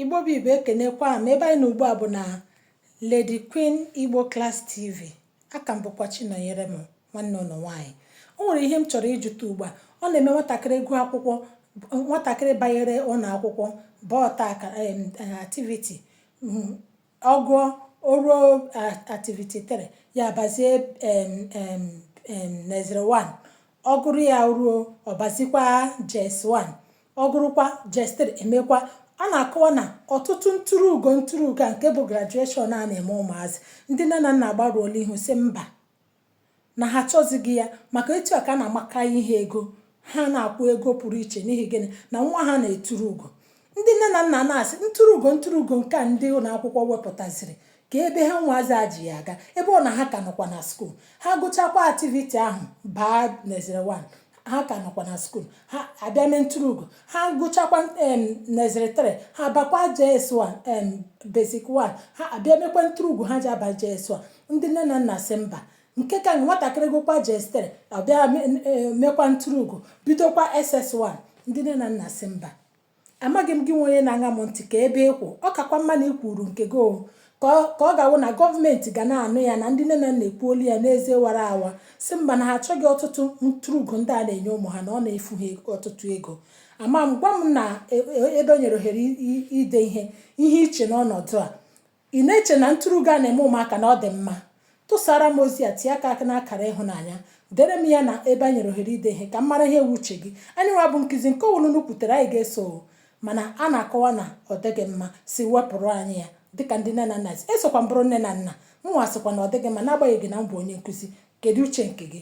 Igbo bụ Igbo ekenekwa m ebe anyị nọ ugbu a bụ na Lady Queen Igbo Class TV a ka m bụkwa Chinọnyerem nwanne unu nwaanyị o nwere ihe m chọrọ ịjụta ugbu a ọ na-eme nwatakịrị gụọ akwụkwọ nwatakịrị banyere ụlọ akwụkwọ baa ọta akara em, eh, activity mm, Ọ gụọ, o ruo Activity 3, ya abazie em em em Nursery 1. Ọ gụrụ ya o ruo, ọ bazikwa JS 1. Ọ gụrụkwa JS 3, e mekwa a na-akọwa na ọtụtụ nturuugo nturuugo a nke bụ graduation a na-eme ụmụazị, ndị nne na nna agbarụọla ihu sị mba. na ha achọzighị ya maka etu a ka a na-amaka ihe ego ha na-akwụ ego pụrụ iche n'ihi gịnị na nwa ha na-eturu ugo ndị nne na nna na-asị nturuugo nturuugo nke a ndị ụlọ akwụkwọ wepụtaziri ka ebe ha nwaazị a ji ya aga ebe ọ na ha ka nọkwa na skuul ha gụchakwa activity ahụ baa Nursery 1 ha ka nọkwa na skuul ha abịa mee nturuugo ha gụchakwa em Nursery 3 ha bakwa JS1 em basic 1 ha abịa mekwa nturuugo ha ji aba JS1 ndị nne na nna sị mba nke ka nwatakịrị gụkwa JS3 ọ bịa me- e, mekwa nturuugo bidokwa SS1 ndị nne na nna sị mba Amaghị m gị nwa onye na-aṅa m ntị ka ebe ị kwụ ọ kakwa mma na i kwuru nke gị o ka ọ ga-awụ na gọọmenti ga na-anụ ya na ndị nne na nna ekwuola ya n'eze wara awa sị mba na ha achọghị ọtụtụ nturuugo ndị a na-enye ụmụ ha na ọ na-efu ha ọtụtụ ego ama m gwa m na e, e, ebe e nyere ohere ide ihe ihe i che n'ọnọdụ a Ị na-eche na nturuugo a na-eme ụmụaka na ọ dị mma? Tụsaara m ozi a, tie aka n'akara ịhụnanya, deere m ya na ebe e nyere ohere ide ihe ka m mara ihe wụ uche gị. Anyị nwa bụ nkizi nke ọ wụla unu kwutere anyị ga-eso o, mana a na-akọwa na ọ dịghị mma, sị wepụrụ anyị ya dịka ndị nne na nna sị. Esokwa m bụrụ nne na nna, mụnwa sịkwa na ọ dịghị mma n'agbanyeghị na m bụ onye nkuzi. Kedu uche nke gị?